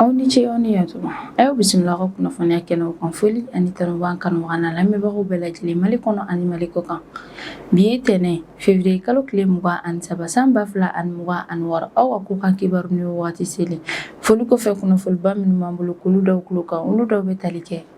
aw ni ce aw ni yatuma a y'aw bisimila ka kunnafoniya kɛnɛw kan foli ani tanu b'an kanubaga n'an lamɛnbagaw bɛɛ lajɛlen mali kɔnɔ ani mali kɔ kan bi ye tɛnɛn fevriye kalo tile mugan ani saba san ba fila ani mugan ani wɔɔrɔ aw ka kɔkan kibaru ni wagati selen foli kɔfɛ kunnafoniba minnu b'an bolo k'olu da aw tulo kan olu dɔw bɛ tali kɛ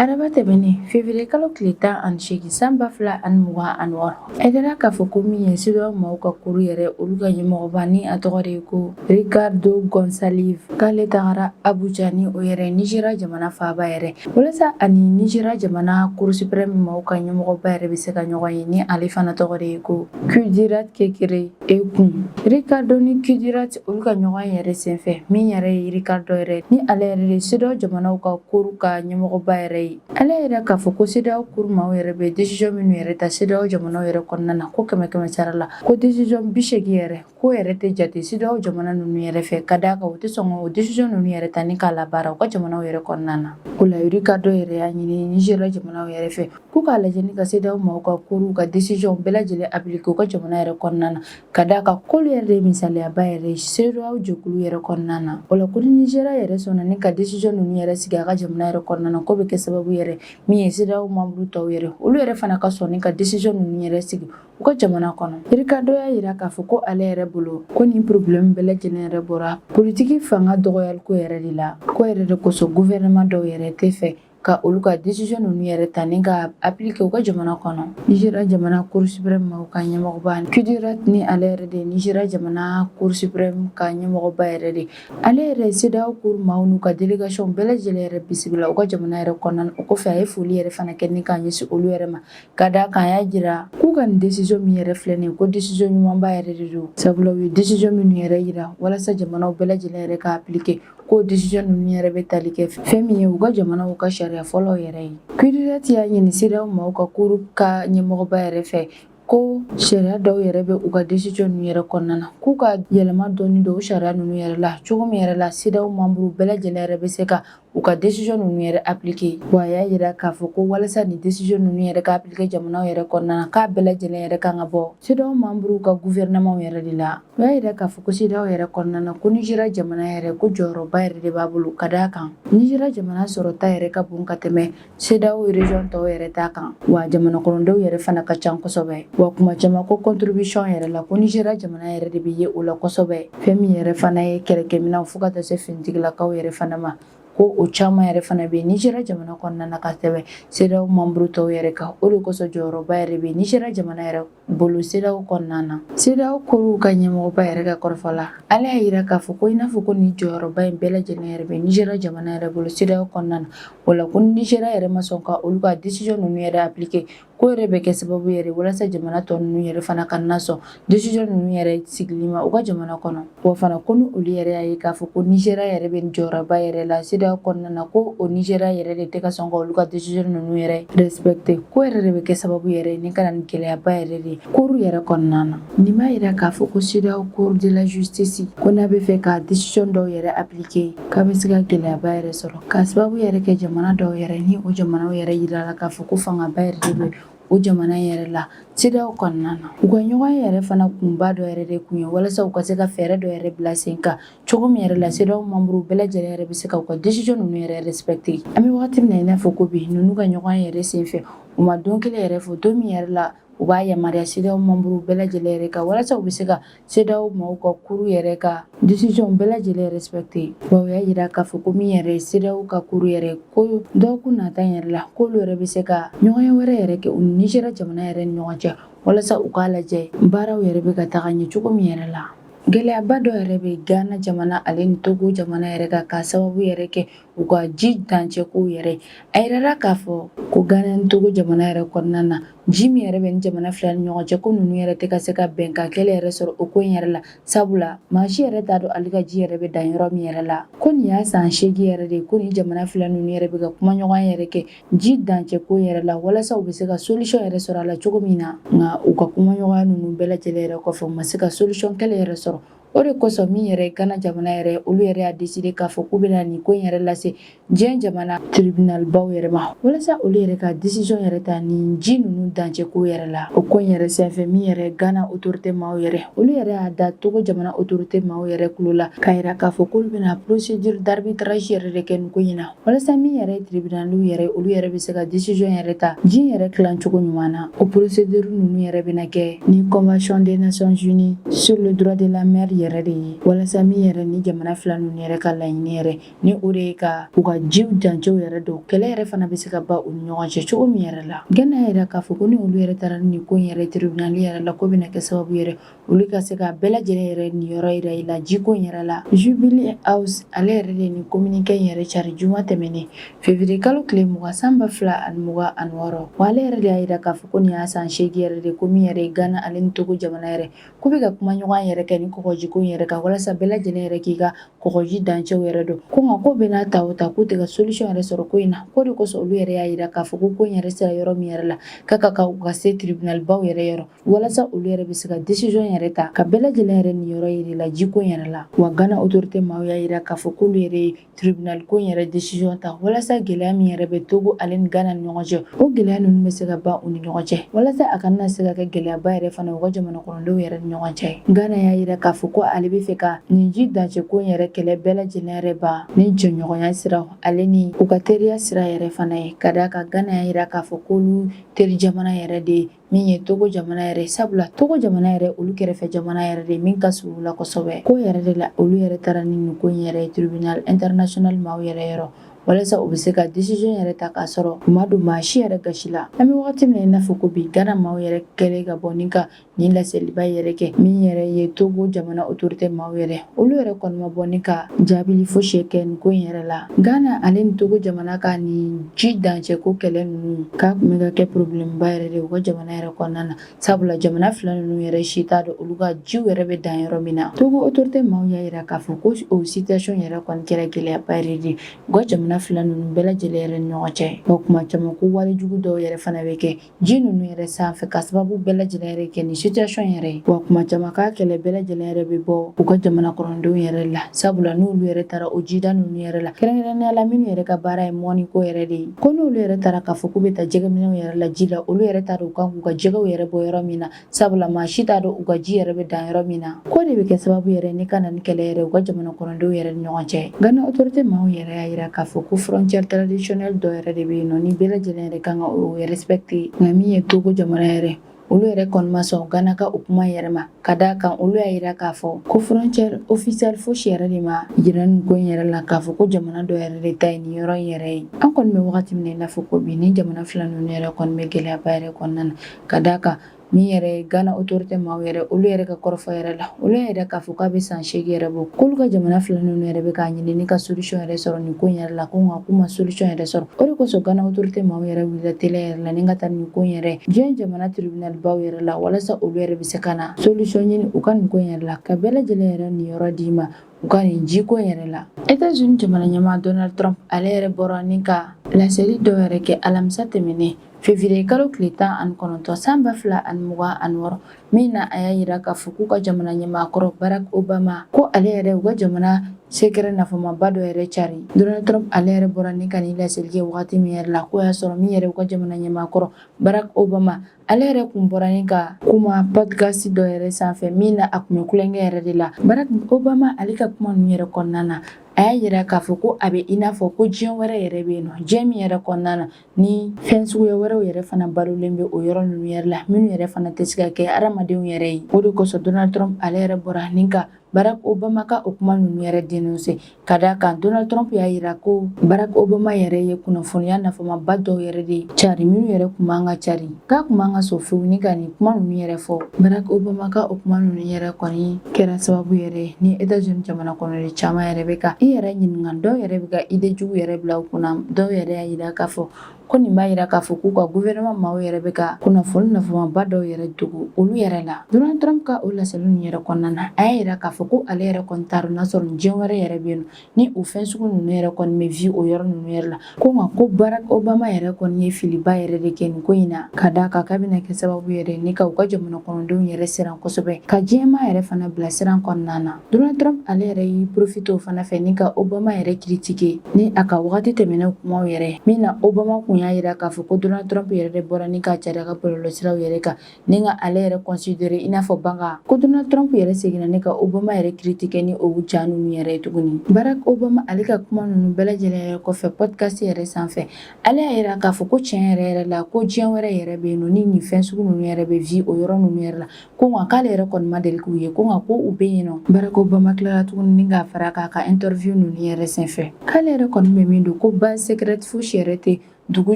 Araba tɛmɛnen fevrier kalo tile tan ani seegin san ba fila ani mugan ani wɔɔrɔ a yirala k'a fɔ ko min ye CEDEAO maaw ka cour yɛrɛ olu ka ɲɛmɔgɔba ni a tɔgɔ de ye ko Ricardo Gonçalves k'ale tagara Abuja ni o yɛrɛ Nizeriya jamana faaba yɛrɛ walasa ani Nizeriya jamana Cour suprême maaw ka ɲɛmɔgɔba yɛrɛ bɛ se ka ɲɔgɔn ye ni ale fana tɔgɔ de ye ko Kudirat Kekere Ekun Ricardo ni Kudirat olu ka ɲɔgɔn yɛrɛ senfɛ min yɛrɛ ye Ricardo yɛrɛ ni ale yɛrɛ de CEDEAO jamanaw ka cour ka ɲɛmɔgɔba yɛrɛ ye ale yɛrɛ k'a fɔ ko CEDEAO cour maaw yɛrɛ bɛ décision minnu yɛrɛ ta CEDEAO jamanaw yɛrɛ kɔnɔna na ko kɛmɛ kɛmɛ sara la ko décision biseegin yɛrɛ k'o yɛrɛ tɛ jate CEDEAO jamana ninnu yɛrɛ fɛ ka d'a kan u tɛ sɔn k'o décision ninnu yɛrɛ ta ni k'a labaara u ka jamanaw yɛrɛ kɔnɔna na o la Ricardo yɛrɛ y'a ɲini Nizeriya jamanaw yɛrɛ fɛ K'u k'a lajɛ ni ka CEDEAO maaw ka cour ka décision bɛɛ lajɛlen appliquer u ka jamana yɛrɛ kɔnɔna na ka d'a kan k'olu yɛrɛ de misaliyaba yɛrɛ CEDEAO jɛkulu yɛrɛ kɔnɔna na o la ko ni Nizeriya yɛrɛ sɔnna ni ka décision ninnu yɛrɛ sigi a ka jamana yɛrɛ kɔnɔna na k'o bɛ kɛ sababu yɛrɛ min ye CEDEAO membre tɔw yɛrɛ olu yɛrɛ fana ka sɔn ni ka décision ninnu yɛrɛ sigi u ka jamana kɔnɔ Ricardo y'a jira k'a fɔ ko ale yɛrɛ bolo ko nin problème bɛɛ lajɛlen yɛrɛ bɔra politiki fanga dɔgɔyaliko yɛrɛ de la k'o yɛrɛ de kosɔn gouvernement dɔw yɛrɛ tɛ fɛ ka olu ka décision ninnu yɛrɛ ta ni ka appliquer u ka jamana kɔnɔ Nizeriya jamana Cour suprême maaw ka ɲɛmɔgɔba Kudirat ni ale yɛrɛ de Nizeriya jamana Cour suprême ka ɲɛmɔgɔba yɛrɛ de ale yɛrɛ CEDEAO cour maaw n'u ka délégation bɛɛ lajɛlen yɛrɛ bisimila u ka jamana yɛrɛ kɔnɔna na o kɔfɛ a ye foli yɛrɛ fana kɛ ni k'a ɲɛsin olu yɛrɛ ma ka d'a kan a y'a jira k'u ka nin décision min yɛrɛ filɛ nin ye ko décision ɲumanba yɛrɛ de don sabula u ye décision minnu yɛrɛ jira walasa jamanaw bɛɛ lajɛlen yɛrɛ ka appliquer K'o décision ninnu yɛrɛ bɛ tali kɛ fɛn min ye u ka jamanaw ka sariya fɔlɔw yɛrɛ ye Kudirat y'a ɲini CEDEAO maaw ka cour ka ɲɛmɔgɔba yɛrɛ fɛ ko sariya dɔw yɛrɛ bɛ u ka décision ninnu yɛrɛ kɔnɔna na k'u ka yɛlɛma dɔɔnin don o sariya ninnu yɛrɛ la cogo min yɛrɛ la CEDEAO membre bɛɛ lajɛlen yɛrɛ bɛ se ka u ka décision ninnu yɛrɛ appliquer wa a y'a jira k'a fɔ ko walasa nin décision ninnu yɛrɛ ka appliquer jamanaw yɛrɛ kɔnɔna na k'a bɛɛ lajɛlen yɛrɛ kan ka bɔ CEDEAO membre ka gouvernement yɛrɛ de la O y'a jira k'a fɔ ko CEDEAO yɛrɛ kɔnɔna na ko Nizeriya jamana yɛrɛ ko jɔyɔrɔba yɛrɛ de b'a bolo ka d'a kan Nizeriya jamana sɔrɔta yɛrɛ ka bon ka tɛmɛ CEDEAO région tɔw yɛrɛ ta kan wa jamanakɔnɔdenw yɛrɛ fana ka ca kosɛbɛ wa kuma caman ko contribution yɛrɛ la ko Nizeriya jamana yɛrɛ de bɛ ye o la kosɛbɛ fɛn min yɛrɛ fana ye kɛlɛkɛminɛnw fo ka taa se finitigilakaw yɛrɛ fana ma ko o caman yɛrɛ fana bɛ Nizeriya jamana kɔnɔna na ka tɛmɛ CEDEAO membre tɔw yɛrɛ kan o de kosɔn jɔyɔrɔba yɛrɛ bɛ Nizeriya jamana yɛrɛ bolo sedaw kɔnɔna na sedaw cour ka ɲɛmɔgɔba yɛrɛ ka kɔrɔfɔ la ale y'a yira k'a fɔ ko i n'a fɔ ko nin jɔyɔrɔba in bɛɛ lajɛlen yɛrɛ bɛ Nigeria jamana yɛrɛ bolo sedaw kɔnɔna na o la ko Nigeria yɛrɛ ma sɔn ka olu ka desizɔn ninnu yɛrɛ aplike k'o yɛrɛ bɛ kɛ sababu yɛrɛ walasa jamana tɔ ninnu yɛrɛ fana kana sɔn desizɔn ninnu yɛrɛ sigili ma u ka jamana kɔnɔ Wa fana ko ni olu yɛrɛ y'a ye k'a fɔ ko Nigeria yɛrɛ bɛ jɔyɔrɔba yɛrɛ la CEDEAO kɔnɔna na ko o Nigeria yɛrɛ de tɛ ka sɔn ka olu ka décision ninnu yɛrɛ respecter k'o yɛrɛ de bɛ kɛ sababu yɛrɛ ni ka na ni gɛlɛyaba yɛrɛ de cour yɛrɛ kɔnɔna na nin b'a jira k'a fɔ ko CEDEAO cour de la justice ko n'a bɛ fɛ ka décision dɔw yɛrɛ appliquer k'a bɛ se ka gɛlɛyaba yɛrɛ sɔrɔ k'a sababu yɛrɛ kɛ jamana dɔw yɛrɛ ni o jamanaw yɛrɛ yirala k'a fɔ ko fangaba yɛrɛ de bɛ o jamana in yɛrɛ la CEDEAO kɔnɔna na u ka ɲɔgɔnye yɛrɛ fana kunba dɔ yɛrɛ de kun ye walasa u ka se ka fɛɛrɛ dɔ yɛrɛ bila sen kan cogo min yɛrɛ la CEDEAO membre bɛɛ lajɛlen yɛrɛ bɛ se ka u ka decision ninnu yɛrɛ respecter an bɛ wagati min na i n'a fɔ ko bi ninnu ka ɲɔgɔnye yɛrɛ sen fɛ u ma don kelen yɛrɛ fɔ don min yɛrɛ la u b'a yamaruya CEDEAO membre bɛɛ lajɛlen yɛrɛ kan walasa u bɛ se ka CEDEAO maaw ka cour yɛrɛ ka decision bɛɛ lajɛlen respecter wa u y'a jira k'a fɔ ko min yɛrɛ ye CEDEAO ka cour yɛrɛ ko dɔgɔkun nata yɛrɛ la k'olu yɛrɛ bɛ se ka ɲɔgɔnye wɛrɛ yɛrɛ kɛ u ni Nigeria jamana yɛrɛ ni ɲɔgɔn cɛ walasa u k'a lajɛ baaraw yɛrɛ bɛ ka taga ɲɛ cogo min yɛrɛ la. Gɛlɛyaba dɔ yɛrɛ bɛ Ghana jamana ale ni Togo jamana yɛrɛ kan k'a sababu yɛrɛ kɛ u ka ji dancɛ ko yɛrɛ a yirala k'a fɔ ko gana ni togo jamana yɛrɛ kɔnɔna na ji min yɛrɛ bɛ nin jamana fila ni ɲɔgɔn cɛ ko ninnu yɛrɛ tɛ ka se ka bɛnkan kelen yɛrɛ sɔrɔ o ko in yɛrɛ la sabula maa si yɛrɛ t'a dɔn ale ka ji yɛrɛ bɛ dan yɔrɔ min yɛrɛ la ko nin y'a san seegin yɛrɛ de ye ko nin jamana fila ninnu yɛrɛ bɛ ka kumaɲɔgɔnya yɛrɛ kɛ ji dancɛ ko yɛrɛ la walasa u bɛ se ka solisɔn yɛrɛ sɔrɔ a la cogo min na nka u ka kumaɲɔgɔnya ninnu bɛɛ lajɛlen yɛrɛ kɔfɛ u ma se ka solisɔn kelen yɛrɛ sɔrɔ O de kosɔn min yɛrɛ gana jamana yɛrɛ olu yɛrɛ y'a deside k'a fɔ k'u bɛna nin ko in yɛrɛ lase diɲɛ jamana tribinalibaw yɛrɛ ma walasa olu yɛrɛ ka desisɔn yɛrɛ ta nin ji ninnu dancɛko yɛrɛ la o ko in yɛrɛ senfɛ min yɛrɛ gana otorite maaw yɛrɛ olu yɛrɛ y'a da togo jamana otorite maaw yɛrɛ kulo la k'a yira k'a fɔ k'olu bɛna procedure d'arbitrage yɛrɛ de kɛ nin ko in na walasa min yɛrɛ ye tiribinaliw yɛrɛ olu yɛrɛ bɛ se ka desizɔn yɛrɛ ta ji yɛrɛ tilancogo ɲuman na o poroseduri ninnu yɛrɛ bɛna kɛ ni convention des nations unies sur le droit de la mer yɛrɛ de ye walasa min yɛrɛ nin jamana fila ninnu yɛrɛ ka laɲini yɛrɛ ni o de ye ka u ka jiw dancɛw yɛrɛ dɔn kɛlɛ yɛrɛ fana bɛ se ka ban u ni ɲɔgɔn cɛ cogo min yɛrɛ la gana y'a yira k'a fɔ ko ni olu yɛrɛ taara nin ko in yɛrɛ tiribinali yɛrɛ la k'o bɛna kɛ sababu yɛrɛ olu ka se ka bɛɛ lajɛlen yɛrɛ niyɔrɔ yira i la jiko yɛrɛ la Jubilee House ale yɛrɛ de nin kominike yɛrɛ cari juma tɛmɛnen février kalo tile mugan san ba fila ani mugan ani wɔɔrɔ wa ale yɛrɛ de y'a jira k'a fɔ ko nin y'a san seegin yɛrɛ de ko min yɛrɛ gana ale ni togo jamana yɛrɛ k'u bɛ ka kumaɲɔgɔnya yɛrɛ kɛ nin kɔgɔjiko yɛrɛ kan walasa bɛɛ lajɛlen yɛrɛ k'i ka kɔgɔji dancɛw yɛrɛ dɔn ko nka k'o bɛɛ n'a ta o ta k'u tɛ ka solisɔn yɛrɛ sɔrɔ ko in na k'o de kosɔn olu yɛrɛ y'a jira k'a fɔ ko ko in yɛrɛ sera yɔrɔ min yɛrɛ la k'a ka kan u ka se tribinalibaw yɛrɛ yɔrɔ walasa olu yɛrɛ bɛ se ka décision yɛrɛ ta ka bɛɛ lajɛlen yɛrɛ niyɔrɔ yira la jiko in yɛrɛ la wa gana autorité maaw y'a yira k'a fɔ k'olu yɛrɛ ye tribunal ko in yɛrɛ décision ta walasa gɛlɛya min yɛrɛ bɛ togo ale ni gana ni ɲɔgɔn cɛ o gɛlɛya ninnu bɛ se ka ban u ni ɲɔgɔn cɛ walasa a kana se ka kɛ gɛlɛyaba yɛrɛ fana u ka jamana kɔnɔdenw yɛrɛ ni ɲɔgɔn cɛ gana y'a yira k'a fɔ ko ale bɛ fɛ ka nin ji dancɛ ko in yɛrɛ kɛlɛ bɛɛ lajɛlen yɛrɛ ban ni jɛɲɔgɔnya siraw ale ni u ka teriya sira yɛrɛ fana ye ka d'a kan gana y'a yira k'a fɔ k'olu teri jamana yɛrɛ de min ye togo jamana yɛrɛ sabula togo jamana yɛrɛ olu kɛrɛfɛ jamana yɛrɛ de min ka surun u la kosɛbɛ ko yɛrɛ de la olu yɛrɛ taara ni nin ko in yɛrɛ ye tribunal international maaw yɛrɛ yɔrɔ walasa u bɛ se ka décision yɛrɛ ta k'a sɔrɔ u ma don maa si yɛrɛ gasi la an bɛ wagati min na i n'a fɔ ko bi gana maaw yɛrɛ kɛlen ka bɔ ni ka nin laseliba yɛrɛ kɛ min yɛrɛ ye togo jamana autorité maaw yɛrɛ olu yɛrɛ kɔni ma bɔ ni ka jaabili fosi kɛ nin ko in yɛrɛ la ghana ale ni togo jamana ka nin ji dancɛko kɛlɛ ninnu k'a tun bɛ ka kɛ problème ba yɛrɛ de u ka jamana yɛrɛ kɔnɔna na sabula jamana fila ninnu yɛrɛ si t'a dɔn olu ka jiw yɛrɛ bɛ dan yɔrɔ min na togo autorité maaw y'a yira k'a fɔ ko o situation yɛrɛ kɔni kɛra gɛlɛyaba yɛrɛ de u ka jamana fila ninnu bɛɛ lajɛlen yɛrɛ ni ɲɔgɔn cɛ wa kuma caman ko walejugu dɔw yɛrɛ fana bɛ kɛ Ji ninnu yɛrɛ sanfɛ ka sababu bɛɛ lajɛlen yɛrɛ kɛ nin situation yɛrɛ ye wa kuma caman k'a kɛlɛ bɛɛ lajɛlen yɛrɛ bɛ bɔ u ka jamana kɔnɔndenw yɛrɛ la sabula n'olu yɛrɛ taara o jida ninnu yɛrɛ la kɛrɛnkɛrɛnnenya la minnu yɛrɛ ka baara ye mɔni ko yɛrɛ de ye ko n'olu yɛrɛ taara k'a fɔ k'u bɛ taa jɛgɛminɛw yɛrɛ la ji la olu yɛrɛ t'a dɔn u kan k'u ka jɛgɛw yɛrɛ bɔ yɔrɔ min na sabula maa si t'a dɔn u ka ji yɛrɛ bɛ dan yɔrɔ min na k'o de bɛ kɛ sababu yɛrɛ ni ka na ni kɛlɛ yɛrɛ u ka jamana kɔnɔdenw yɛrɛ ni ɲɔgɔn cɛ gana autorité maaw yɛrɛ y'a yira k'a fɔ ko frontière traditionnelle dɔ yɛrɛ de bɛ yen nɔ ni bɛɛ lajɛlen yɛrɛ kan ka o respecter nka min ye togo jamana yɛrɛ olu yɛrɛ kɔni ma sɔn gana ka o kuma yɛrɛ ma ka d'a kan olu y'a yira k'a fɔ ko frontière officielle fosi yɛrɛ de ma yira nin ko in yɛrɛ la k'a fɔ ko jamana dɔ yɛrɛ de ta ye nin yɔrɔ in yɛrɛ ye an kɔni bɛ wagati min na i n'a fɔ ko bi nin jamana fila ninnu yɛrɛ kɔni bɛ gɛlɛyaba yɛrɛ kɔnɔna na ka d'a kan min yɛrɛ Gana autorité maaw yɛrɛ olu yɛrɛ ka kɔrɔfɔ yɛrɛ la, olu y'a yira k'a fɔ k'a bɛ san seegin yɛrɛ bɔ, k'olu ka jamana fila ninnu yɛrɛ bɛ k'a ɲini ni ka solution yɛrɛ sɔrɔ nin ko in yɛrɛ la, ko nka k'u ma solution yɛrɛ sɔrɔ, o de kosɔn Gana autorité maaw yɛrɛ wulila teliya yɛrɛ la ni ka taa nin ko in yɛrɛ diɲɛ jamana tribunal baw yɛrɛ la, walasa olu yɛrɛ bɛ se ka na solution ɲini u ka nin ko in yɛrɛ la, ka bɛɛ lajɛlen yɛrɛ niyɔrɔ d'i ma. u ka nin jiko yɛrɛ la états-unis jamana ɲɛmaa donald trump ale yɛrɛ bɔra ni ka laseli dɔ yɛrɛ kɛ alamisa tɛmɛnen février kalo tile tan ani kɔnɔntɔn san ba fila ani mugan ani wɔɔrɔ min na a y'a yira k'a fɔ k'u ka jamana ɲɛmaakɔrɔ barack obama ko ale yɛrɛ u ka jamana secret nafamaba dɔ yɛrɛ cari donald trump ale yɛrɛ bɔra ni ka nin laseli kɛ wagati min yɛrɛ la k'o y'a sɔrɔ min yɛrɛ u ka jamana ɲɛmaakɔrɔ barack obama Ale yɛrɛ kun bɔra ni ka kuma podcast dɔ yɛrɛ sanfɛ min na a kun bɛ kulonkɛ yɛrɛ de la Barack Obama ale ka kuma ninnu yɛrɛ kɔnɔna na a y'a yira k'a fɔ ko a bɛ i n'a fɔ ko diɲɛ wɛrɛ yɛrɛ bɛ yen nɔ diɲɛ min yɛrɛ kɔnɔna na ni fɛn suguya wɛrɛw yɛrɛ fana balolen bɛ o yɔrɔ ninnu yɛrɛ la minnu yɛrɛ fana tɛ se ka kɛ hadamadenw yɛrɛ ye o de kosɔn Donald Trump ale yɛrɛ bɔra ni ka Barack Obama ka o kuma ninnu yɛrɛ dénoncer ka d'a kan Donald Trump y'a yira ko Barack Obama yɛrɛ ye kunnafoniya nafamaba dɔw yɛrɛ de cari minnu yɛrɛ kun man ka cari k'a kun man ka sɔn fewu ni ka nin kuma ninnu yɛrɛ fɔ Barack Obama ka o kuma ninnu yɛrɛ kɔni kɛra sababu yɛrɛ ni États-Unis jamana kɔnɔden caman yɛrɛ bɛ ka i yɛrɛ ɲininka dɔw yɛrɛ bɛ ka idée jugu yɛrɛ bila u kunna dɔw yɛrɛ y'a yira k'a fɔ ko nin b'a yira k'a fɔ k'u ka gouvernement maaw yɛrɛ bɛ ka kunnafoni nafamaba dɔw yɛrɛ dogo olu yɛrɛ la donald trump ka o laseli ninnu yɛrɛ kɔnɔna na a y'a yira k'a fɔ ko ale yɛrɛ kɔni t'a dɔn n'a sɔrɔ nin diɲɛ wɛrɛ yɛrɛ bɛ yen ni o fɛn sugu ninnu yɛrɛ kɔni bɛ vi o yɔrɔ ninnu yɛrɛ la ko nka ko barack obama yɛrɛ kɔni ye filiba yɛrɛ de kɛ nin ko in na ka d'a kan k'a bɛna kɛ sababu yɛrɛ ni ka u ka jamana kɔnɔdenw yɛrɛ siran kosɛbɛ ka diɲɛmaa yɛrɛ fana bila siran kɔnɔna na Donald Trump ale yɛrɛ y'i profite o fana fɛ ni ka Obama yɛrɛ critiquer ni a ka wagati tɛmɛnenw kumaw yɛrɛ ye, min na Obama kun y'a yira k'a fɔ ko Donald Trump yɛrɛ de bɔra ni k'a cari a ka bɔlɔlɔsiraw yɛrɛ kan ni ka ale yɛrɛ considérer i n'a fɔ banga. Ko Donald Trump yɛrɛ seginna ni ka Obama yɛrɛ critiquer ni o ja ninnu yɛrɛ ye tuguni. Barack Obama ale ka kuma ninnu bɛɛ lajɛlen yɛrɛ kɔfɛ podcast yɛrɛ sanfɛ, ale y'a yira k'a fɔ ko tiɲɛ yɛrɛ yɛrɛ la ko diɲɛ wɛrɛ yɛrɛ bɛ yen nɔ ni nin fɛn sugu ninnu yɛrɛ bɛ vie o yɔrɔ ninnu yɛrɛ la, ko nka k'ale yɛrɛ kɔni ma deli k'u ye ko nka ko u bɛ yen nɔ barack obama tilara tuguni ni k'a fara k'a ka interview ninnu yɛrɛ senfɛ k'ale yɛrɛ kɔni bɛ min dɔn ko base secrète fosi yɛrɛ tɛ dugu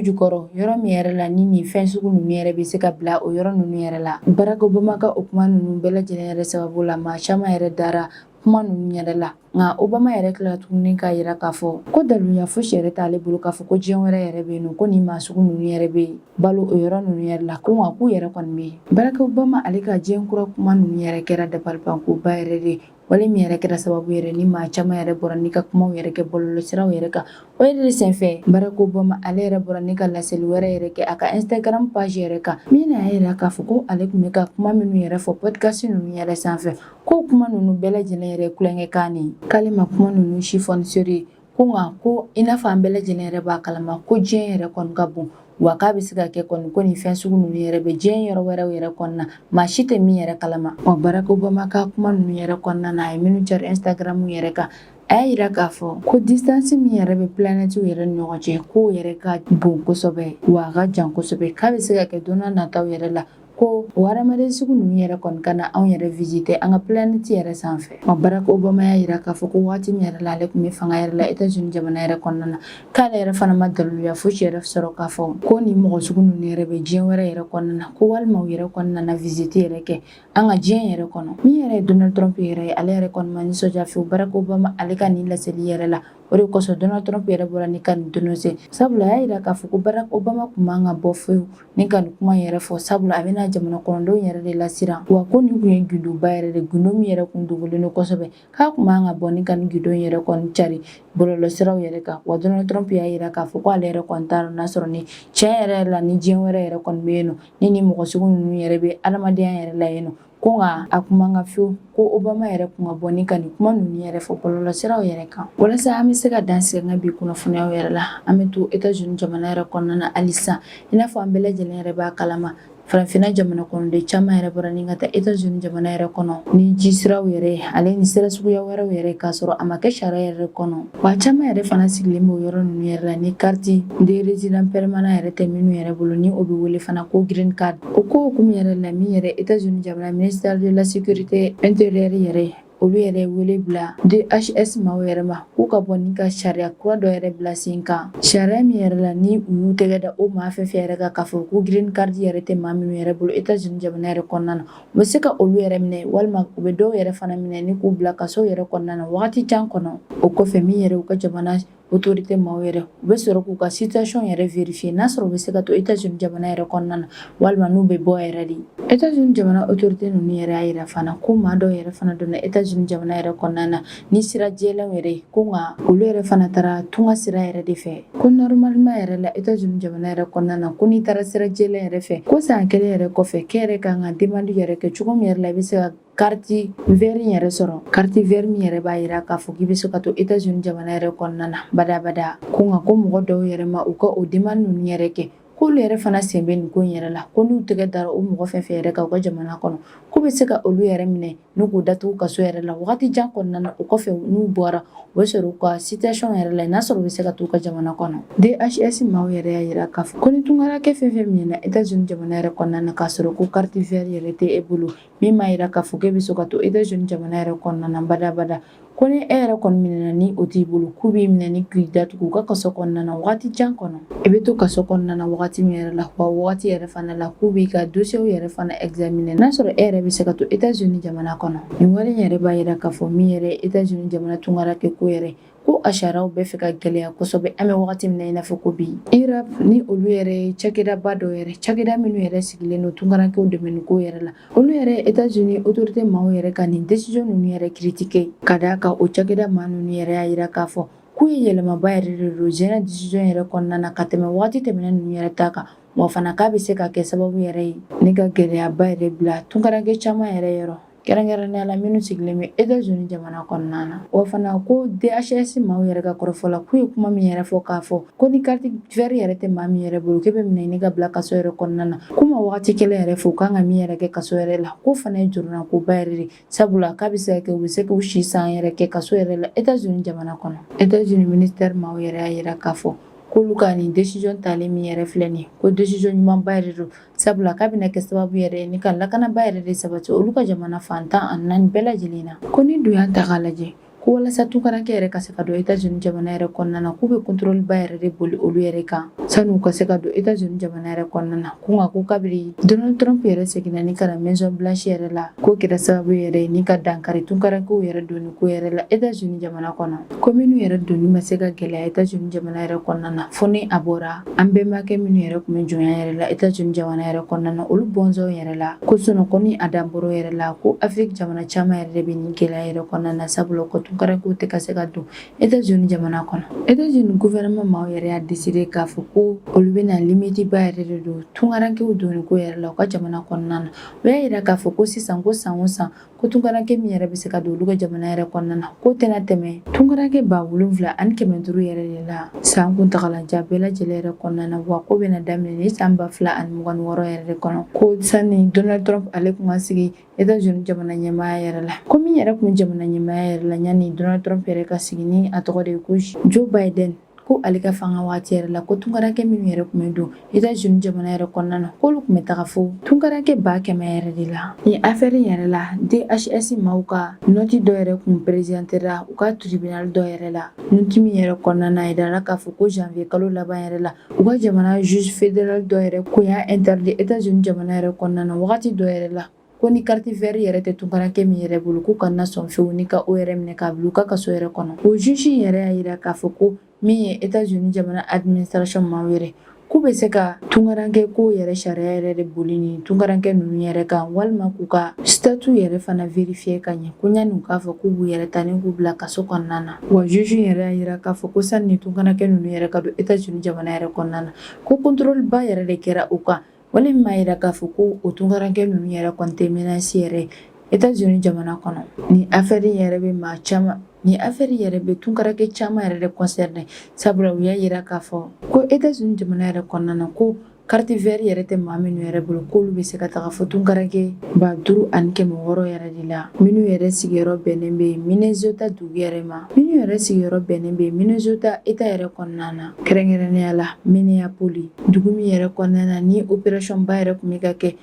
jukɔrɔ yɔrɔ min yɛrɛ la ni nin fɛn sugu ninnu yɛrɛ bɛ se ka bila o yɔrɔ ninnu yɛrɛ la barack obama ka o kuma ninnu bɛɛ lajɛlen yɛrɛ sababu la maa caman yɛrɛ dara kuma ninnu yɛrɛ la nka obama yɛrɛ tilala tuguni k'a yira k'a fɔ ko daluya fosi yɛrɛ t'ale bolo k'a fɔ ko diɲɛ wɛrɛ yɛrɛ bɛ yen nɔ ko nin maa sugu ninnu yɛrɛ bɛ balo o yɔrɔ ninnu yɛrɛ la ko nka k'u yɛrɛ kɔni bɛ yen barack obama ale ka diɲɛ kura kuma ninnu yɛrɛ kɛra dabalibankoba yɛrɛ de wale min yɛrɛ kɛra sababu yɛrɛ ni maa caman yɛrɛ bɔra ni ka kumaw yɛrɛ kɛ bɔlɔlɔsiraw yɛrɛ kan o yɛrɛ de senfɛ barack obama ale yɛrɛ bɔra ni ka laseli wɛrɛ yɛrɛ kɛ a ka instagram page yɛrɛ kan min na a y'a yira k'a fɔ ko ale tun bɛ ka kuma minnu yɛrɛ fɔ podcast ninnu yɛrɛ sanfɛ ko kuma ninnu bɛɛ lajɛlen yɛrɛ kulonkɛkan ne k'ale ma kuma ninnu si fɔ ni sérieux ye ko nka ko i n'a fɔ an bɛɛ lajɛlen yɛrɛ b'a kalama ko diɲɛ yɛrɛ kɔni ka bon wa k'a bɛ se ka kɛ kɔni ko nin fɛn sugu ninnu yɛrɛ bɛ diɲɛ yɔrɔ wɛrɛw yɛrɛ kɔnɔna maa si tɛ min yɛrɛ kalama wa barack obama ka kuma ninnu yɛrɛ kɔnɔna na a ye minnu cari instagram yɛrɛ kan a y'a yira k'a fɔ ko distance min yɛrɛ bɛ planɛtiw yɛrɛ ni ɲɔgɔn cɛ k'o yɛrɛ ka bon kosɛbɛ wa a ka jan kosɛbɛ k'a bɛ se ka kɛ don nataw yɛrɛ la ko o hadamaden sugu ninnu yɛrɛ kɔni ka na anw yɛrɛ visite an ka planɛti yɛrɛ sanfɛ barak obama y'a yira k'a fɔ ko waati min yɛrɛ la ale tun bɛ fanga yɛrɛ la etats unis jamana yɛrɛ kɔnɔna na k'ale yɛrɛ fana ma daliluya fosi yɛrɛ sɔrɔ k'a fɔ ko nin mɔgɔ sugu ninnu yɛrɛ bɛ diɲɛ wɛrɛ yɛrɛ kɔnɔna na ko walima u yɛrɛ kɔni nana visite yɛrɛ kɛ an ka diɲɛ yɛrɛ kɔnɔ min yɛrɛ ye donald trump yɛrɛ ye ale yɛrɛ kɔni ma nisɔndiya fewu barak obama ale ka nin laseli yɛrɛ la o de kosɔn donald trump yɛrɛ bɔra ni ka nin denonse sabula a y'a yira k'a fɔ ko barak obama kun man ka bɔ fewu Ni ka nin kuma yɛrɛ fɔ sabula a bɛna jamana kɔnɔdenw yɛrɛ de lasiran wa ko nin kun ye gindoba yɛrɛ de gindo min yɛrɛ kun dogolen don kosɛbɛ k'a kun man ka bɔ ni ka nin gindo yɛrɛ kɔni cari bɔlɔlɔsiraw yɛrɛ kan wa Donald Trump y'a yira k'a fɔ k'ale yɛrɛ kɔni t'a dɔn n'a sɔrɔ ni tiɲɛ yɛrɛ la ni diɲɛ wɛrɛ yɛrɛ kɔni bɛ yen nɔ ni nin mɔgɔ sugu ninnu yɛrɛ bɛ adamadenya yɛrɛ la yen nɔ ko nka a kun man kan fiyewu ko obama yɛrɛ kun ka bɔ ni ka nin kuma ninnu yɛrɛ fɔ bɔlɔlɔsiraw yɛrɛ kan walasa an bɛ se ka dan sigi an ka bi kunnafoniyaw yɛrɛ la an bɛ to etats unis jamana yɛrɛ kɔnɔna na halisa i n'a fɔ an bɛɛ lajɛlen yɛrɛ b'a kalama farafinna jamana kɔnɔden caman yɛrɛ bɔra ni ka taa etats unis jamana yɛrɛ kɔnɔ ni ji siraw yɛrɛ ale ni sira suguya wɛrɛw yɛrɛ k'a sɔrɔ a ma kɛ sariya yɛrɛ kɔnɔ Wa caman yɛrɛ fana sigilen b'o yɔrɔ ninnu yɛrɛ la ni carte de résident permanent yɛrɛ tɛ minnu yɛrɛ bolo ni o bɛ wele fana ko green card o ko hokumu yɛrɛ la min yɛrɛ Etats Unis jamana ministère de la sécurité intérieure yɛrɛ olu yɛrɛ wele bila DHS maaw yɛrɛ ma k'u ka bɔ ni ka sariya kura dɔ yɛrɛ bila sen kan sariya min yɛrɛ la ni u y'u tɛgɛ da o maa fɛn fɛn yɛrɛ kan k'a fɔ ko green card yɛrɛ tɛ maa minnu yɛrɛ bolo Etats Unis jamana yɛrɛ kɔnɔna na U bɛ se ka olu yɛrɛ minɛ walima u bɛ dɔw yɛrɛ fana minɛ ni k'u bila kaso yɛrɛ kɔnɔna na waati jan kɔnɔ o kɔfɛ min yɛrɛ u ka jamana autorité maaw yɛrɛ u bɛ sɔrɔ k'u ka situation yɛrɛ vérifier n'a sɔrɔ u bɛ se ka to Etats-Unis jamana yɛrɛ kɔnɔna na walima n'u bɛ bɔ yɛrɛ de Etats-Unis jamana autorité ninnu yɛrɛ y'a yira fana ko maa dɔw yɛrɛ fana donna Etats-Unis jamana yɛrɛ kɔnɔna na ni sira jɛlenw yɛrɛ ye ko nka olu yɛrɛ fana taara tunga sira yɛrɛ de fɛ ko nɔrɔmalima yɛrɛ la etazini jamana yɛrɛ kɔnɔna na ko n'i taara sira jɛlen yɛrɛ fɛ ko san kelen yɛrɛ kɔfɛ k'e yɛrɛ ka kan ka demandi yɛrɛ kɛ cogo min yɛrɛ la i bɛ se ka kariti vɛri yɛrɛ sɔrɔ kariti vɛri min yɛrɛ b'a yira k'a fɔ k'i bɛ se ka to etazini jamana yɛrɛ kɔnɔna na badabada ko nka ko mɔgɔ dɔw yɛrɛ ma u ka o demandi ninnu yɛrɛ kɛ k'olu yɛrɛ fana sen bɛ nin ko in yɛrɛ la ko n'u tɛgɛ dara o mɔgɔ fɛn fɛn yɛrɛ kan u ka jamana kɔnɔ k'u bɛ se ka olu yɛrɛ minɛ ni k'u datugu kaso yɛrɛ la wagati jan kɔnɔna na o kɔfɛ n'u bɔra o bɛ sɔrɔ u ka situation yɛrɛ la n'a sɔrɔ u bɛ se ka t'u ka jamana kɔnɔ DHS maaw yɛrɛ y'a yira k'a fɔ ko ni tunkarankɛ fɛn fɛn minɛna Etats-Unis jamana yɛrɛ kɔnɔna na k'a sɔrɔ ko carte vert yɛrɛ tɛ e bolo min m'a yira k'a fɔ k'e bɛ se ka to Etats-Unis jamana yɛrɛ kɔnɔna na badabada Ko ni e yɛrɛ kɔni minɛna ni o t'i bolo k'u b'i minɛ ni k'i datugu u ka kaso kɔnɔna na wagati jan kɔnɔ i bɛ to kaso kɔnɔna na wagati min yɛrɛ la wa wagati yɛrɛ fana la k'u b'i ka dossier yɛrɛ fana examiner n'a sɔrɔ e yɛrɛ bɛ se ka to Etats-Unis jamana kɔnɔ nin wale yɛrɛ b'a yira k'a fɔ min yɛrɛ Etats-Unis jamana tunkarakɛ ko yɛrɛ ko a sariyaw bɛ fɛ ka gɛlɛya kosɛbɛ an bɛ wagati min na i n'a fɔ ko bi IRAP ni olu yɛrɛ cakɛdaba dɔ yɛrɛ cakɛda minnu yɛrɛ sigilen don tunkarankew dɛmɛ ko yɛrɛ la Olu yɛrɛ ye Etats-Unis autorité maaw yɛrɛ ka nin décision ninnu yɛrɛ critiquer ka d'a kan o cakɛda maa ninnu yɛrɛ y'a yira k'a fɔ k'u ye yɛlɛmaba yɛrɛ de don ɲinan décision yɛrɛ kɔnɔna na ka tɛmɛ wagati tɛmɛnen ninnu yɛrɛ ta kan wa fana k'a bɛ se ka kɛ sababu yɛrɛ ye ni ka gɛlɛyaba yɛrɛ bila tunkaranke caman yɛrɛ yɔrɔ kɛrɛnkɛrɛnnenya la minnu sigilen bɛ Etats-Unis jamana kɔnɔna na wa fana ko DHS maaw yɛrɛ ka kɔrɔfɔ la k'u ye kuma min yɛrɛ fɔ k'a fɔ ko ni carte verte yɛrɛ tɛ maa min yɛrɛ bolo k'e bɛ minɛ ni ka bila kaso yɛrɛ kɔnɔna na k'u ma wagati kelen yɛrɛ fɔ u kan ka min yɛrɛ kɛ kaso yɛrɛ la k'o fana ye jɔrɔnakoba yɛrɛ de sabula k'a bɛ se ka kɛ u bɛ se k'u si san yɛrɛ kɛ kaso yɛrɛ la etats unis jamana kɔnɔ etats unis ministère maaw yɛrɛ y'a yira k'a fɔ k'olu ka nin décision talen min yɛrɛ filɛ nin ko décision ɲumanba yɛrɛ don sabula k'a bɛna kɛ sababu yɛrɛ ye ni ka lakanaba yɛrɛ de sabati olu ka jamana fan tan ani naani bɛɛ lajɛlen na ko n'i dun y'a ta k'a lajɛ Ko walasa tunkaranke yɛrɛ ka se ka don Etats Unis jamana yɛrɛ kɔnɔna na, k'u bɛ contrôle ba yɛrɛ de boli olu yɛrɛ kan sani u ka se ka don Etats Unis jamana yɛrɛ kɔnɔna na. Ko nka ko kabiri Donald Trump yɛrɛ seginna ni ka na Maison Blanche yɛrɛ la, k'o kɛra sababu yɛrɛ ye ni ka dankari tunkarankew yɛrɛ donni ko yɛrɛ la Etats Unis jamana kɔnɔ. Ko minnu yɛrɛ donni ma se ka gɛlɛya Etats Unis jamana yɛrɛ kɔnɔna na fo ni a bɔra An bɛnbakɛ minnu yɛrɛ kun bɛ jɔnya yɛrɛ la Etats-Unis jamana yɛrɛ kɔnɔna na olu bɔnsɔnw yɛrɛ la ko sinon kɔni a danbɔrɔ yɛrɛ la ko Afrique jamana caman yɛrɛ de bɛ nin gɛlɛya yɛrɛ kɔnɔna na sabula ko tunkarankew tɛ ka se ka don Etats-Unis jamana kɔnɔ Etats-Unis gouvernement maaw yɛrɛ y'a décidé k'a fɔ ko olu bɛna limite ba yɛrɛ de don tunkarankew donni ko yɛrɛ la u ka jamana kɔnɔna na o y'a yira k'a fɔ ko sisan ko san o san ko tunkaranke min yɛrɛ bɛ se ka don olu ka jamana yɛrɛ kɔnɔna na k'o tɛna tɛmɛ tunkaranke ba wolonfila ani kɛmɛ duuru yɛrɛ de la san kuntagalajan bɛɛ lajɛlen yɛrɛ kɔnɔna na wa k'o bɛna daminɛ nin san ba fila ani mugan ni wɔɔrɔ yɛrɛ de kɔnɔ ko sanni donald trump ale kun ka sigi etats unis jamana ɲɛmaaya yɛrɛ la ko min yɛrɛ kun jamana ɲɛmaaya yɛrɛ la yanni donald trump yɛrɛ ka sigi ni a tɔgɔ de ye ko joe biden ko ale ka fanga wagati yɛrɛ la ko tunkaranke minnu yɛrɛ kun bɛ don Etats-Unis jamana yɛrɛ kɔnɔna na k'olu kun bɛ taga fo tunkaranke ba kɛmɛ yɛrɛ de la nin affaire yɛrɛ la DHS maaw ka nɔti dɔ yɛrɛ kun perezantera u ka tribunal dɔ yɛrɛ la nɔti min yɛrɛ kɔnɔna na a yirala k'a fɔ ko janvier kalo laban yɛrɛ la u ka jamana juge fédéral dɔ yɛrɛ kun y'a interdit Etats-Unis jamana yɛrɛ kɔnɔna na wagati dɔ yɛrɛ la Ko ni carte verte yɛrɛ tɛ tunkarankɛ min yɛrɛ bolo k'u kana sɔn fewu ni ka o yɛrɛ minɛ k'a bila u ka kaso yɛrɛ kɔnɔ. O juge yɛrɛ y'a yira k'a fɔ ko min ye Etats Unis jamana administration maaw yɛrɛ k'u bɛ se ka tunkarankɛ ko yɛrɛ sariya yɛrɛ de boli ni tunkarankɛ ninnu yɛrɛ kan walima k'u ka statut yɛrɛ fana vérifier ka ɲɛ ko yanni u k'a fɔ k'u b'u yɛrɛ ta ni k'u bila kaso kɔnɔna na wa juge yɛrɛ y'a yira k'a fɔ ko sani ni tunkarankɛ ninnu yɛrɛ ka don Etats-Unis jamana yɛrɛ kɔnɔna na ko contrôle ba yɛrɛ de kɛra u kan Wale min b'a yira k'a fɔ ko o tunkarankɛ ninnu yɛrɛ kɔni tɛ menace yɛrɛ Etats-Unis jamana kɔnɔ ni affaire yɛrɛ bɛ maa caman ni affaire yɛrɛ bɛ tunkarankɛ caman yɛrɛ de concerner sabula u y'a yira k'a fɔ ko Etats-Unis jamana yɛrɛ kɔnɔna na ko carte verte yɛrɛ tɛ maa minnu yɛrɛ bolo k'olu bɛ se ka taga fo tunkarankɛ ba duuru ani kɛmɛ wɔɔrɔ yɛrɛ de la minnu yɛrɛ sigiyɔrɔ bɛnnen bɛ Minnesota dugu yɛrɛ ma minnu yɛrɛ sigiyɔrɔ bɛnnen bɛ Minnesota Etat yɛrɛ kɔnɔna na Kɛrɛnkɛrɛnnenya la Minneapolis dugu min yɛrɛ kɔnɔna na ni operation ba yɛrɛ tun bɛ ka kɛ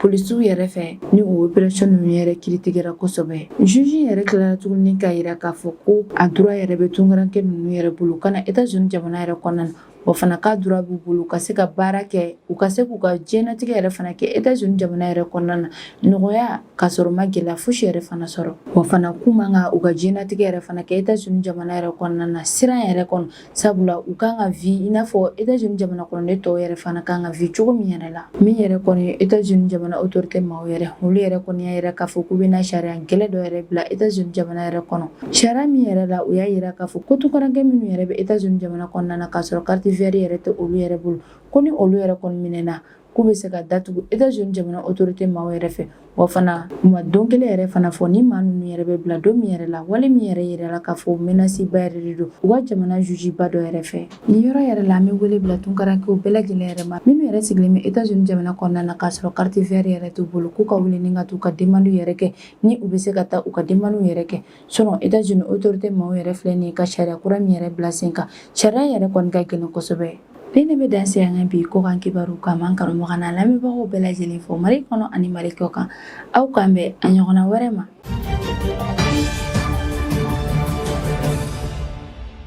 polisiw yɛrɛ fɛ ni o operation ninnu yɛrɛ critiquéra kosɛbɛ juge yɛrɛ tilara tuguni k'a yira k'a fɔ ko a droit yɛrɛ bɛ tunkaranke ninnu yɛrɛ bolo ka na Etats-Unis jamana yɛrɛ kɔnɔna na wa fana k'a droit b'u bolo ka se ka baara kɛ u ka se k'u ka diɲɛnatigɛ yɛrɛ fana kɛ Etats-Unis jamana yɛrɛ kɔnɔna na nɔgɔya k'a sɔrɔ u ma gɛlɛya fosi yɛrɛ fana sɔrɔ wa fana k'u man ka u ka diɲɛnatigɛ yɛrɛ fana kɛ Etats-Unis jamana yɛrɛ kɔnɔna na siran yɛrɛ kɔnɔ sabula u kan ka vi i n'a fɔ Etats-Unis jamana kɔnɔden tɔw yɛrɛ fana kan ka vi cogo min yɛrɛ la min yɛrɛ kɔni ye Etats-Unis jamana autorité maaw yɛrɛ olu yɛrɛ kɔni y'a yira k'a fɔ k'u bɛna sariya gɛlɛn dɔ yɛrɛ bila Etats-Unis jamana yɛrɛ kɔnɔ sariya min yɛrɛ la u y'a yira k'a fɔ ko tunkarankɛ minnu yɛrɛ bɛ Etats-Unis jamana kɔnɔna na k'a sɔrɔ carte verte yɛrɛ tɛ olu yɛrɛ bolo ko ni olu yɛrɛ kɔni minɛna k'u bɛ se ka datugu Etats Unis jamana autorité maaw yɛrɛ fɛ wa fana u ma don kelen yɛrɛ fana fɔ ni maa ninnu yɛrɛ bɛ bila don min yɛrɛ la wale min yɛrɛ yirala k'a fɔ menace ba yɛrɛ de don u ka jamana juge ba dɔ yɛrɛ fɛ nin yɔrɔ yɛrɛ la an bɛ wele bila tunkarankew bɛɛ lajɛlen yɛrɛ ma minnu yɛrɛ sigilen bɛ Etats Unis jamana kɔnɔna na k'a sɔrɔ carte verte yɛrɛ t'u bolo k'u ka wuli ni ka t'u ka demande yɛrɛ kɛ ni u bɛ se ka taa u ka demande yɛrɛ kɛ Sinon Etats-Unis autorités maaw yɛrɛ filɛ nin ye ka sariya kura min yɛrɛ bila sen kan, sariya yɛrɛ kɔni ka gɛlɛn kosɛbɛ. Nin de bɛ dan sigi an ka bi kɔkan kibaru kan n b'an kanubagaw n'an lamɛnbagaw bɛɛ lajɛlen fo Mali kɔnɔ ani Mali kɔkan. Aw k'an bɛn a ɲɔgɔnna wɛrɛ ma.